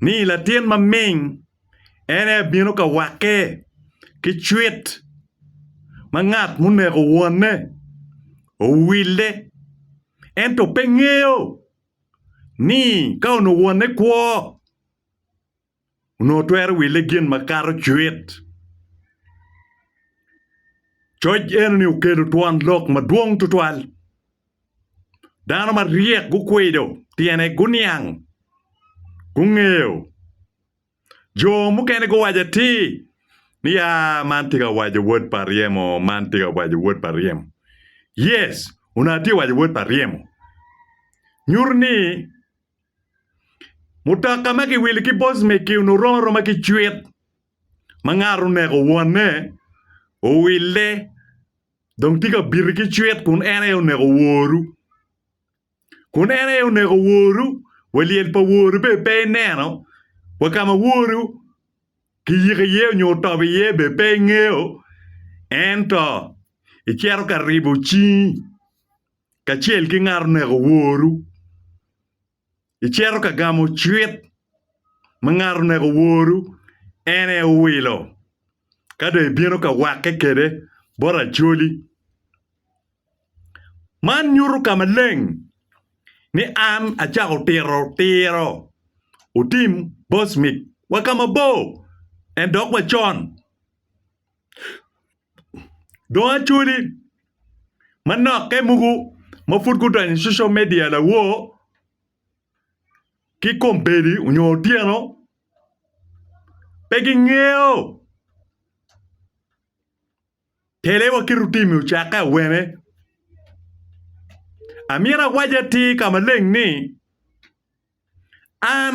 ni latin maming en aye abino ka wakke ki cwit ma ngat muneko wonne owille ento pe ngeyo ni ka onongo wonne kwo onongo twero wille gin makato cwit. Coc eno ni okelo twon lok madwong tutwal. Dano maryek gukwido tyene guniang, gungeyo. Jo mukene guwaco atir ni ya man tye ka waco wod pa ryemo, man tye ka waco wod pa ryemo. Yes, onongo atye ka waco wod pa ryemo. Nyuto ni mutoka ma kiwilo ki bocmec-ki onongo rom aroma ki cwit ma ngat oneko wonne, owille. Dong tika biti ki cwit kun en aye oneko woru? Kun en aye oneko woru, wa lyel pa woru bene pe ineno? Wa ka ma woru kiyiko iye onyo otobo iye bene pe ingeyo? Ento icito ka ribo cingi kacel ki ngat oneko woru. Icito ka gamo cwit ma ngat oneko woru en aye owilo, ka dong ibino ka wakke kwede bot Acholi. Man nyuto ka maleng ni an acako tito tiro otim Bosmik wa ka mabor ento dok wa con. dong acholi manokke mogo ma pud gudonyo i social media lawor ki kombeddi nyo otyeno pe gingeyo tele wa ki rutimi ocakke awene amyero awac atir ka maleng ni an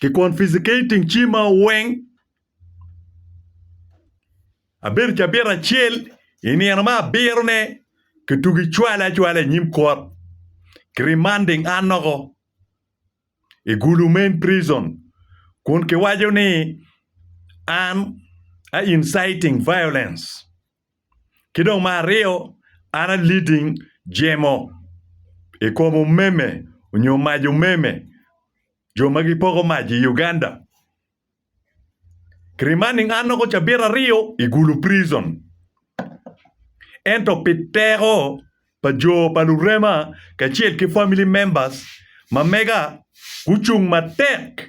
Ki confiscating cima weng. Abedo cabit acel i nino me abiro ne ki tugi cwale acwala inyim court ki remanding an loko i gulu main prison kun ki waco ni an a inciting violence. Ki dong me aryo, an a leading jemo i kom omeme nyo mac omeme jo ma gipoko mac i Uganda. Ki remaining an noko cabit aryo i Gulu prison. Ento pi teko pa jo pa lurema kacel ki family members ma mega gucung matek.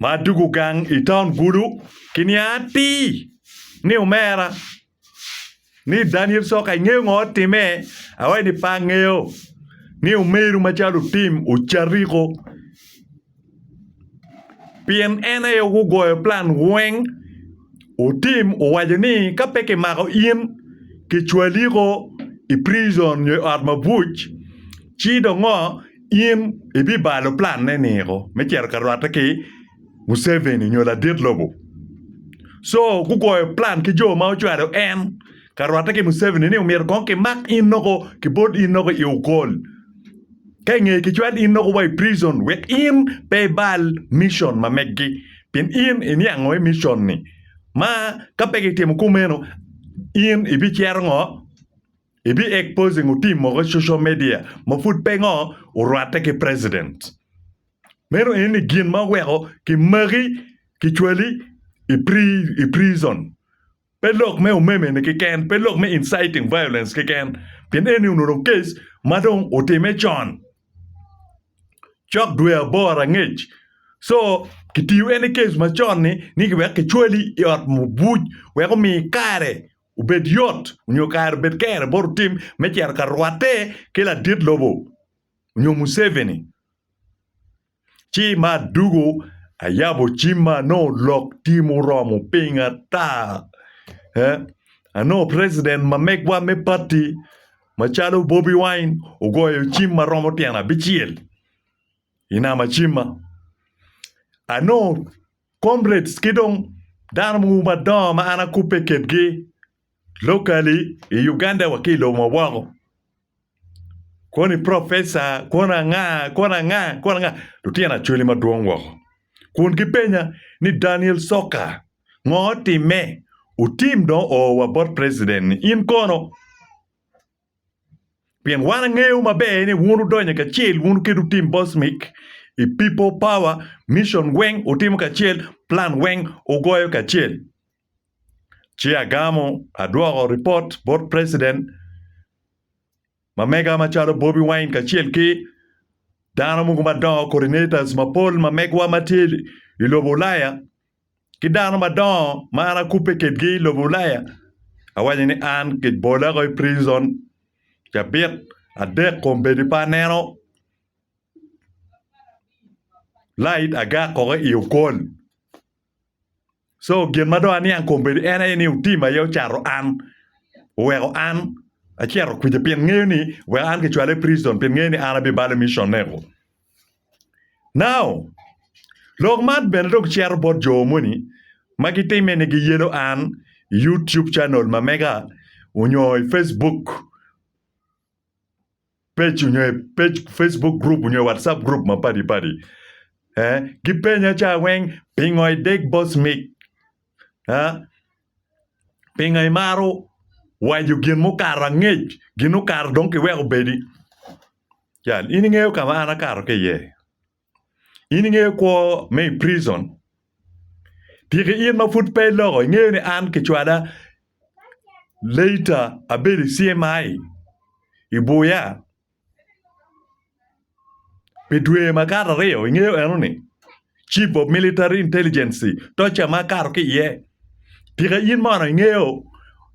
ma adwogo gang i taun Gulu ki niang atir ni omera ni Daniel Soka ingeyo ngo otime? Awaci ni pe angeyo ni omeru macalo otim ocariko pien en aye gugoyo plan weng otim owaco ni ka pe kimako in kicwaliko i prizon nyo i ot mabuc ci dongo in ibibalo planne niko me cito ka rwatte ki Museveni nyo ladit lobo. Co gugoyo plan ki jo ma ocwalo en ka rwatte ki Museveni ni omyero kong kimak in noko kibol in noko i Okol. Ka ingeye kicwal in noko wa i prison wek in pe ibal mission ma meggi pien in iniango i mission-ni. Ma ka pe kitimo kumeno in ibicero ngo? I bi exposing otim mogo i social media ma pud pe ngo orwatte ki president. Meno eni ni gin ma oweko ki maki ki cwali i pri i prison. Pe lok me omeme ni kiken, pe lok me inciting violence kiken. Pien eni onongo case ma dong otime con. Cok dwe aboro angec. So kitiyo eni case macon ni ni wek ki cwali i ot mubuc wek omi kare obed yot nyo kare obed kere bot otim me cito ka rwatte ki ladit lobo nyo Museveni. Ci ma adugo ayabo cimma anongo lok tye muromo ping ata. Eh, anongo president ma megwa me party macalo Bobi Wine ogoyo cim ma romo tyen abicel. i nam acima anongo comrades ki dong dano mogo madongo ma an akubbe kwedgi locally i Uganda wa ki i lobo ma woko koni professor koni anga koni anga koni anga lutino Acholi madwong woko kun gipenya ni Daniel Coka ngo timme otim dong oo wa bot president-ni in kono? Pien wan angeyo maber ni wun wudonyo kacel, wun kit wutim Bosmic i People Power, mission weng wutimo kacel, plan weng wugoyo kacel. Ci agamo adwoko ripot bot President ma mega macalo Bobi Wine kacel ki dano mogo madongo, coordinators mapol ma megwa ma tye i lobo Ulaya ki dano madongo ma an akubbe kedgi i lobo Ulaya, awaco ni an kibola woko i prison cabit adek kombeddi pe aneno light agak woko i okol. So gin ma dong aniang kombeddi en aye ni otim aye ocato an oweko an acito kwija pien ngeyo ni oweko an kicwala i prison pien ngeyo ni an abibalo i mission mego. Now, lok man bene dong cito bot jo moni ma gitimme ni giyelo an i YouTube channel ma mega onyo i Facebook page onyo i Facebook group onyo i WhatsApp group ma padi padi. Gipenya ca weng pingo ideg boss mic? Pinga imaro waco gin mukato angec gin okato dong kiweko obedi jal in ingeyo kama an akato ki iye in ingeyo kwo me i prison tika in ma pud pe iloko ingeyo ni an kicwala later abedo i CMI ibuya. Pi dwe makato aryo i nge enoni, Chief of Military Intelligency toca ma akato ki iye, tika in mono ingeyo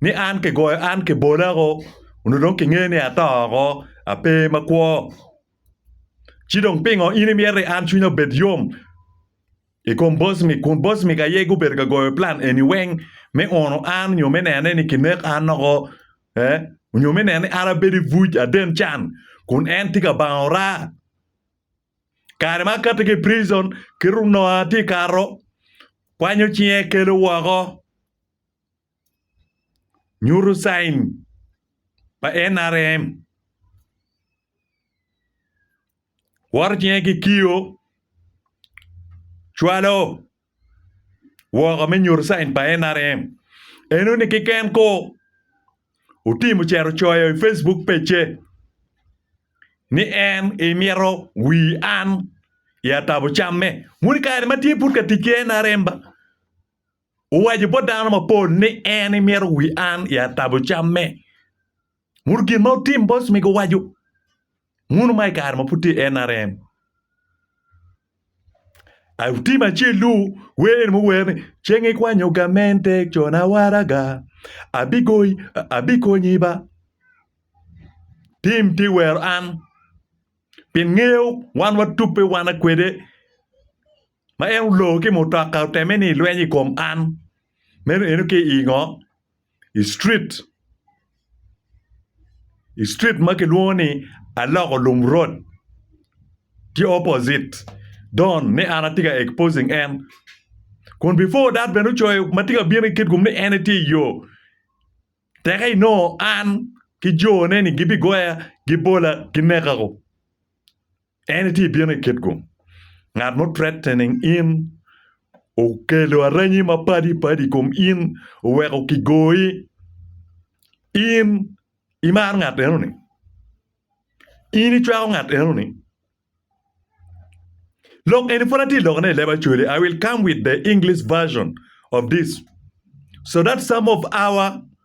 ni an kigoyo an kibola woko onongo dong kingeyo ni ato woko ape makwo? Ci dong pingo in imito ni an cwinya obed yom i kom boss ni kun boss ni aye gubedo ka goyo plan eni weng me uno an nyo me nene ni kinek an woko ee, onyo me neno ni an abedo i buc aden can kun en tye ka bango ora. Kare ma akati ki i prizon, kit ononga atye ka kato, kwanyo cinge kelo woko, nyuto cain pa NRM, kwoto cinge ki kio, cwalo woko me nyuto cain pa NRM eno ni keken ko otim ocito ocoyo i Facebook page ni en emito wir an i atabo camme. Moni kare ma tye pud ka tic ki NRM ba owaco bot dano mapol ni en emito wir an i atabo camme. Munu gin ma otim boss mi guwaco munu ma i kare ma pud tye i NRM. Ai otim acel lu wer eni muwer ni ceng ikwanyo gamente cona waraga abigoyi abikonyi ba tim ti wero an pien ngeyo wan watubbe wana kwede ma en olor ki mutoka oteme ni lweny i kom an meno eno ki i ngo i street i street ma kilwongo ni aloko lum road ki opposite don ni an atye ka exposing en kun before that bene ocoyo ma tye ka bino i kit kom ni en tye i yo teke inongo an ki jone ni gibigoya gibola gineka. En itye bino i kitgu, ngat mo threatening in, okelo aranyi ma padi padi ikom in, oweko ki goyi, in imaro ngat eno ni, in icwako ngat eno ni, lok eni pud atye loko ne i leb acholi, I will come with the English version of this so that some of our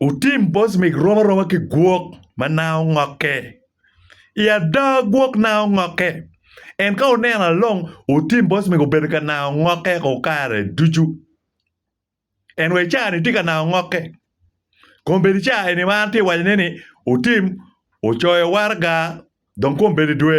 Wutim bocmik romo aroma ki gwok ma nanga ongokke. I ada, gwok nanga ongokke. En ka wuneno along, wutim bocmik obedo ka nanga ongokke ko kare ducu. En wa i caa-ni tye ka nanga ongokke. Kombeddi caa eni ma an atye ka wacone-ni, wutim, wucoyo waraga, dong kombeddi dwe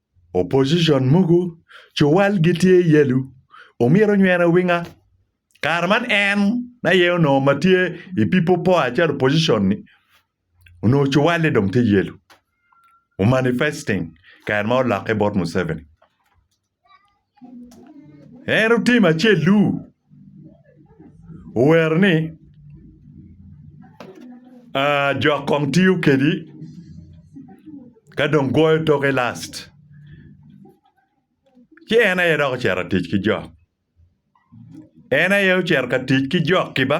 Opposition mogo co wal gitye yellow omyero onywene owinga kare man en aye onongo ma tye i people power calo opposition ni onongo co walle dong tye yellow omanifesting kare ma olokke bot Museveni. En otimo acel-lu, owero ni, aa, jok kong tiyo kedi ka dong gwoyo toke last. Ci en aye dok ocito tic ki jok. En aye ocito ka tic ki jok-ki ba.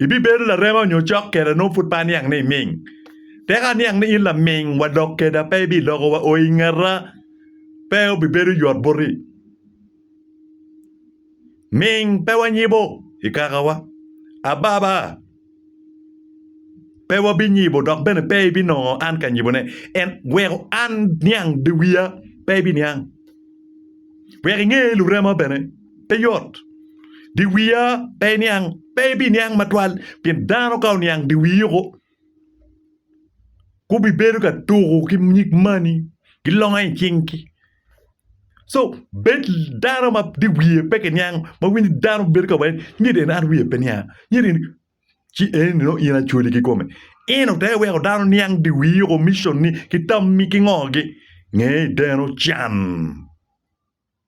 Ibibedo larema nyo cok keda nongo pud pe aniang ni iming. Tek aniang ni in laming wa dok keda pe ibiloko wa oo i ngeta, pe obibedo yot boti. Ming pe wanyibo i kakawa, ababa pe wabinyibo dok bene pe ibinongo an ka nyibone. En weko an niang dye wiya pe ibiniang, wek inge lurema bene. pe yot. Diwiya pe iniang, pe ibiniang matwal, pien dano ka oniang diwii oko, gubibedo ka tuko ki nyig mani, gilonga i cinggi. So, bed dano ma diwiye pe kiniang, ma winyo ni dano bedo ka waconi, nyedo eni an wiya pe nianga, nyedo eni ci eni nongo in acwali kikome. Eno te iweko dano niang diwii oko, micionni, ki tammi, ki ngogi. Nge deno can.